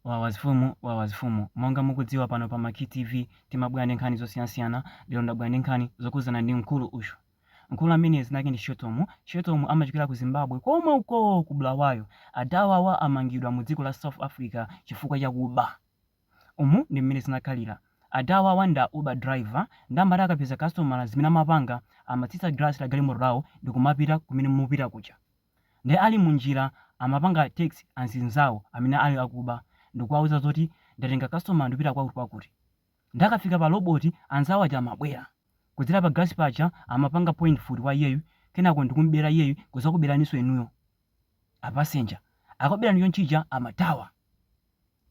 Wawa zifumu wawa zifumu monga mukudziwa pano pa Maki TV timabwera ndi nkhani zosiyanasiyana lero ndabwera ndi nkhani zokhudzana ndi mkulu uyu mkulu amene zina lake ndi Shetomu Shetomu amachokera ku Zimbabwe komwe uko ku Bulawayo adawawa amangidwa mu dziko la South Africa chifukwa cha kuba umu ndi mmene zinakhalira adawawa nda uber driver nde amati akapeza customer zimene amapanga amatsitsa glass la galimoto lawo ndikumapita kumene mupita kuja Nde ali mu njira amapanga text anzinzawo amene ali akuba ndikuwauza zoti ndatenga customer ndikupita kwakuti kwakuti. Nde akafika pa robot anzawo aja amabwera. Kudzera pa glass paja amapanga point mfuti kwa iyeyu kenako ndikumubera iyeyu kuzakuberaninso inuyo a passenger. Akakuberani chonchija amathawa.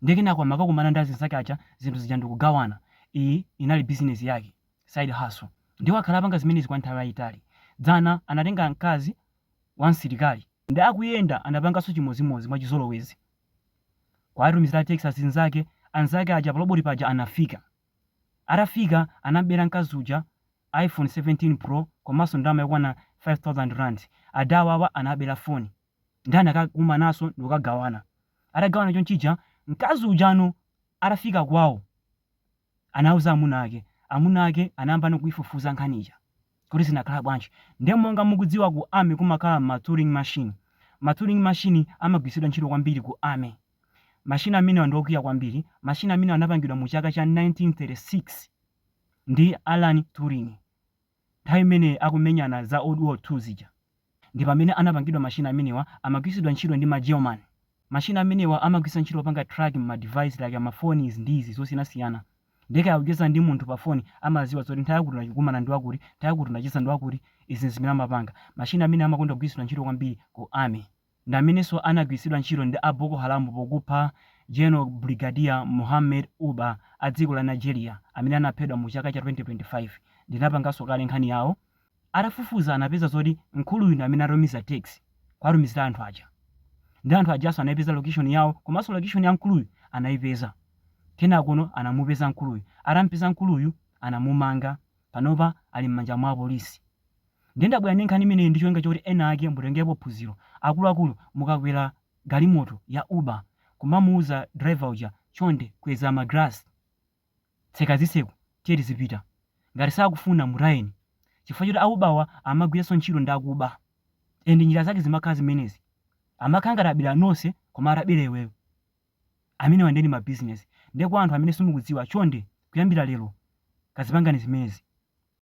Nde kenako amakakumana ndi azinzake aja zinthu zija ndikugawana. Iyi inali business yake, side hustle. Nde wakhala akupanga zimenezi kwa nthawi yayitali. Dzana anatenga mkazi. wa msilikali nde akuyenda anapanganso chimodzimodzi mwachizolowezi kuwatumizira text azinzake anzake aja pa loboti paja anafika atafika anambera mkazi uja iphone 17 pro komanso ndalama yokwana 5000 rand adawawa anabera foni nde anakakumananso ndikukagawana atagawana chonchija mkazi ujano atafika kwawo anauza amuna ake. Amuna ake anayambano kuifufuza nkhani ija kuti zinakhala bwanji. Nde monga mukudziwa ku army kumakhala ma turing machine. Ma turing machine amagwiritsidwa ntchito kwambiri ku army. Machine amenewa ndi okwiya kwambiri. Machine amenewa anapangidwa mu chaka cha 1936 ndi Alan Turing. Nthawi imene akumenyana za World War 2 zija ndi pamene anapangidwa machine amenewa amagwiritsidwa ntchito ndi ma German machine amenewa amagwiritsa ntchito kupanga track ma device like ma phone izi ndi izi zosiyanasiyana ndiye kaya ukucheza ndi munthu pa phone amaziwa zoti nthawi yakuti unakumana ndi wakuti nthawi yakuti unacheza ndi wakuti izi nzimene amapanga machine amenewa amakonda kugwiritsidwa ntchito kwambiri ku army ndi amenenso anagwiritsidwa ntchito ndi a Boko Haram pokupha General Brigadier Muhammad Uba a dziko la Nigeria amene anaphedwa mu chaka cha 2025. Ndinapanganso kale nkhani yawo. Atafufuza anapeza zoti mkuluyu ndi amene anatumiza text kuwatumizira anthu aja. Ndiye anthu ajanso anaipeza location yawo komanso location ya mkuluyu anaipeza. Kenakono anamupeza mkuluyu. Atamupeza mkuluyu anamumanga. Panopa ali m'manja mwa apolisi. Ndiye ndabwera ndi nkhani imeneyi ndi cholinga choti ena ake mutengerepo phunziro. Akuluakulu mukakwera galimoto ya Uber kumamuuza driver uja chonde kweza ma glass, tseka zitseko tiye tizipita. Ngati sakufuna mutayeni. Chifukwa choti a Uber wa amagwiranso ntchito ndi akuba ndi njira zake zimakhala zimenezi. Amakhala ngati abera nonse koma atabera iweyo. Amenewa ndiye ndi ma business. Ndiye kwa anthu amene simukudziwa chonde kuyambira lero kazipangani zimenezi.